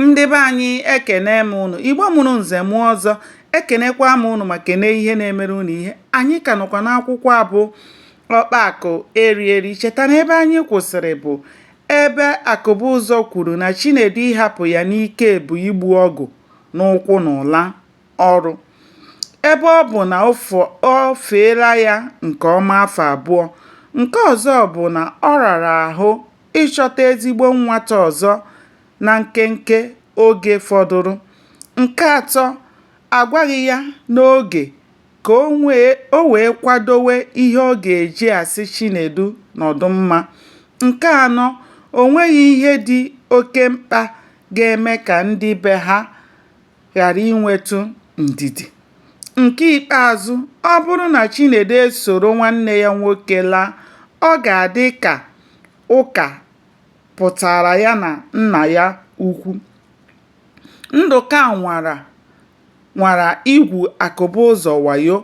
ndị be anyị ekene m ụnụ igbo mụrụ nze mụọ ọzọ ekenekwa m ụnụ ma kene ihe na-emere ụnụ ihe anyị ka nọkwa n'akwụkwọ a bụ ọkpa akụ eri eri cheta na ebe anyị kwụsịrị bụ ebe akụbụzọ kwuru na chinedu ịhapụ ya n'ike bụ igbu ọgụ n'ụkwụ n'ụla ọrụ ebe ọ bụ na o feela ya nke ọma afọ abụọ nke ọzọ bụ na ọ rara ahụ ịchọta ezigbo nwata ọzọ na nkenke oge fọdụrụ. Nke atọ, a gwaghị ya n'oge ka o wee kwadowe ihe ọ ga-eji asị Chinedu nọdụ mma. Nke anọ, o nweghị ihe dị oke mkpa ga-eme ka ndị be ha ghara inwetụ ndidi. Nke ikpeazụ, ọ bụrụ na Chinedu esoro nwanne ya nwoke laa, ọ ga-adị ka ụka pụtaara ya na nna ya ukwu. Ndụka nwara igwu Akụbụzọ wayo.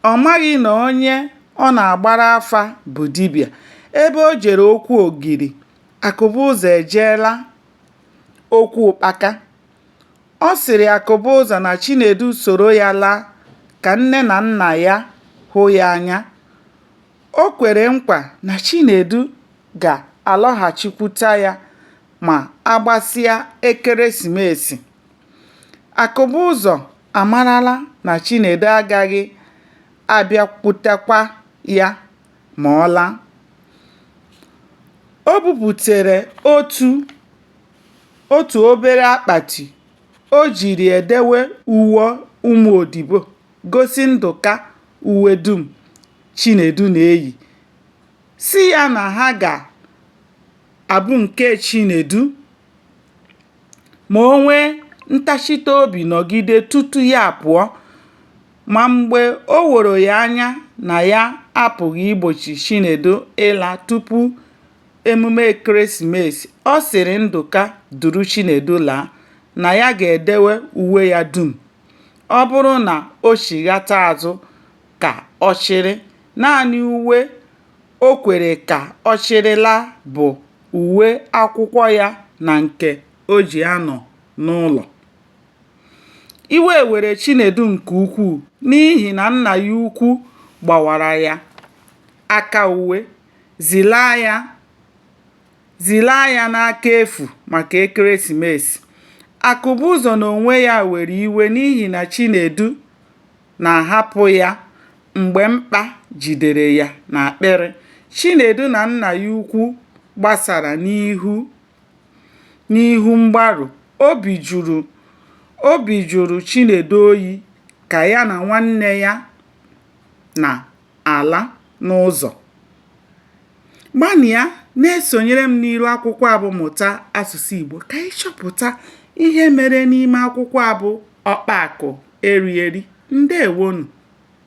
Ọ maghị na onye ọ na-agbara afa bụ dibịa. Ebe o jere okwu ogiri, Akụbụzọ ejeela okwu ụkpaka. Ọ sịrị Akụbụzọ na Chinedu soro ya laa ka nne na nna ya hụ ya anya. O kwere nkwa na Chinedu ga-alọghachikwute ya ma a gbasịa ekeresimesi. Akụbụzọ amarala na Chinedu agaghị abịakwutekwa ya ma ọ laa. O buputere otu. Otu obere akpati o jiri edewe uwe ụmụ odibo gosi Ndụka uwe dum Chinedu na-eyi, sị ya na ha ga-abụ nke Chinedu ma o nwee ntachita obi nọgide tutu ya apụọ, ma mgbe o woro ya anya na ya apụghị igbochi Chinedu ịla tupu emume ekeresimesi, ọ sịrị Ndụka duru Chinedu laa na ya ga-edewe uwe ya dum. Ọ bụrụ na o chighata azụ ka ọ chịrị, naanị uwe o kwere ka ọ chịrị laa bụ uwe akwụkwọ ya na nke o ji anọ n'ụlọ. Iwe were Chinedu nke ukwuu n'ihi na nna ya ukwu gbawara ya aka uwe Zilaa ya Zilaa ya n'aka efu maka ekeresimesi. Akụbụzọ n'onwe ya were iwe n'ihi na Chinedu na-ahapụ ya mgbe mkpa jidere ya n'akpịrị. Chinedu na nna ya ukwu gbasara n'ihu mgbarụ. Obi jụrụ Obi jụrụ Chinedu oyi ka ya na nwanne ya na ala n'ụzọ. Gbanịa na-esonyere m n'iru akwụkwọ a bụ Mụta Asụsụ Igbo ka anyị chọpụta ihe mere n'ime akwụkwọ a bụ Ọkpa Akụ Eri Eri. Ndewonụ!